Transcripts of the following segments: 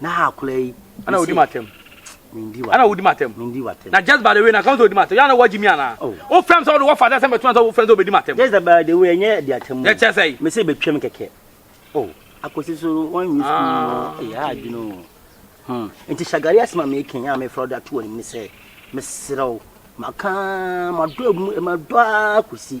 na ha akora yi ana wodi matam mendi wa ana wodi matam mendi wa tem na just by the way na kan so wodi matam yana waji mi ana oh. o fam so wo father sɛ betuma so wo fam so obedi matam just by the way enye di atam ne kyɛ sɛ me se betwam kɛkɛ oh akosi so wɔn nyi sukuu ah. ɛyɛ eh, adwene o hmm. nti shagari asɛm a meken a mefrɛ wode ato anim ne sɛ meserɛ wo maka madɔ mu madɔ a kɔsi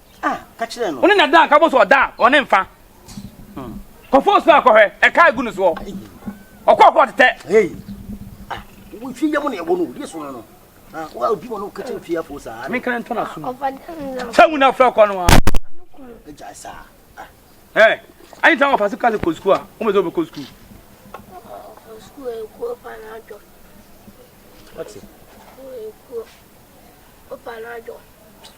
Wo ne no da a, nka bɔ so ɔda a, ɔne mfa. Kɔ fɔs no akɔhwɛ, ɛka egu no soɔ. Ɔkɔ ɔkɔ ɔtetɛ. Menkana ntɔ no asom. Sɛ mu na frɛ kɔ no a. Ɛ, ayi tan ɔfa se kase kɔ sukuu a, ɔmɛ sɛ ɔbɛkɔ sukuu. Ɔte. Ɔpa no adwo.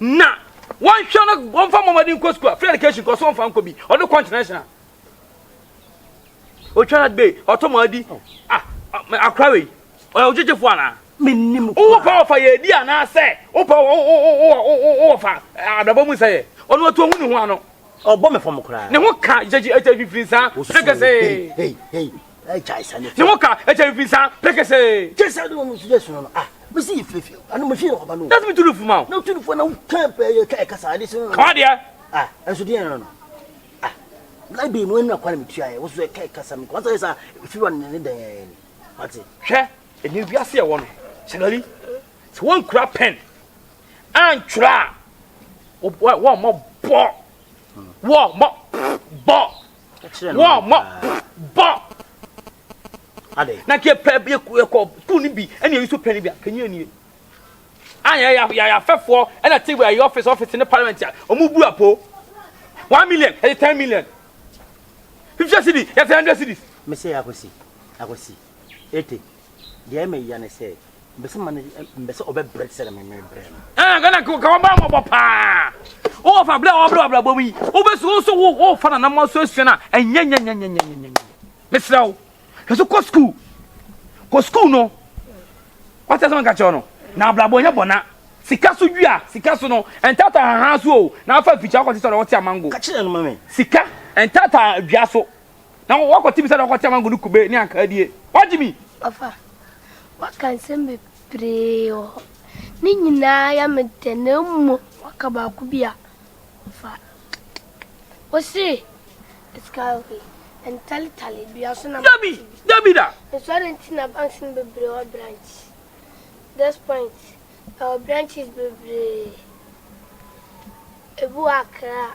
na wɔnhwɛ no wɔmfa mmɔmmɔden nkɔ sukuu a free education kɔ so wɔmfa nkɔ bi ɔde kɔ international otwa na de ɔtɔ mu adi ah akora wei ɔyɛ ogyegyefo anaa menim wowɔ pa wɔfa yɛ adi anaasɛ wopa wɔfa abrabɔ mu sɛ yɛ ɔno ɔto ɔhu ne ho ano ɔbɔ me fam koraa ne ho ka gyegyegyefiri nsa sɛ kɛsɛ ne wo ka ɛkyɛ mfi saa pɛkɛsɛɛ kyɛ sɛ ne wɔn sugya sunu no a mesi yi firifiri ano mefie no ɔba no na tumi tu no fuma o na tu no fuma na woka pɛɛ ka ɛka saa de sɛ kawa deɛ a ɛnso deɛ no no a na bi mu ɛnna kwa na metua yɛ woso ɛka ɛka saa mekɔ sɛ saa firi wa ne ne dɛn yɛ ni wate hwɛ ɛni wiase ɛwɔ no sɛgari sɛ wɔnkura pɛn antwerɛ a wɔmmɔ bɔ wɔmmɔ bɔ wɔ mɔ bɔ na kí pɛ bi kɔ sukuu ni bi ɛna eyi so pɛ ni bi akanyi ɛni ayɛ yɛ yɛ afɛfoɔ ɛna ti wɔ ɛyɛ ɔfis ɔfis ne parliament a wɔn bu apo one million ɛyɛ ten million fifty cedi yɛ ten hundred cedis. mese akosi akosi ete Deɛ ɛma yia ne sɛ, mbɛsɛ ma no mbɛsɛ ɔbɛbrɛ te sɛ na meme brɛ no. Ɛna gana ka wɔbaa mmɔbɔ paa. Wɔfa berɛ a wɔbrɛ abrabɔ mu yi, wobɛsu wo so wo wofa nana ma so asua no a ɛnyɛ nyɛnyɛnyɛnyɛnyɛnyɛ. Mesrɛ wo, hwɛ so kɔ sukuu. Kɔ sukuu no. Wate asɛm nka kyerɛ no. Na abrabɔ nyɛ bɔna. Sika so dua, sika so no, ɛntata haha so o. Na afa afikya akɔte sɛ ɔde wɔte amango. Ka kyerɛ no ma me. Sika ɛntata dua so. na wakɔte bi sɛ na wakɔte amango ne kube ne ankaa die wagye mi. ɔfa waka nsɛm bebree wɔ hɔ ne nyinaa yɛ me dɛ na mmom waka baako bi a ɔfa ɔse ɛsikawei ɛntaletale dua so na dabi dabi da nso adɛ nti na banks no bebree wɔ branch this point ɛwɔ branches bebree ebi wɔ akra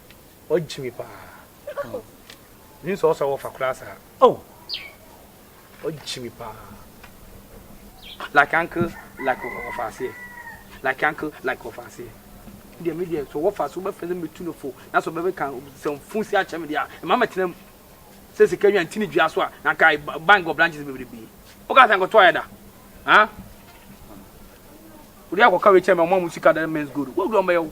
Ɔgye me paa. Menim sɛ ɔsɔ wɔfa koraa saa. Oh! Ɔgye me paa. Like uncle, like wɔfa aseɛ. Like uncle, like wɔfa aseɛ. Deɛ me deɛ sɛ wɔfa so bɛfɛ sɛ metu no fo na sɛ ɔbɛbɛ ka sɛ fon si akyɛ me deɛ a ɛma mɛtena mu sɛ sika nwa nti ne dua so a na ka bank wɔ branches bebrebe. Woka sɛ nkɔto ayɛ da. Ha? Wode akɔka wei kyɛ me ɔma mo sika da men's gold. Wodu ɔmbɛyɛ wo.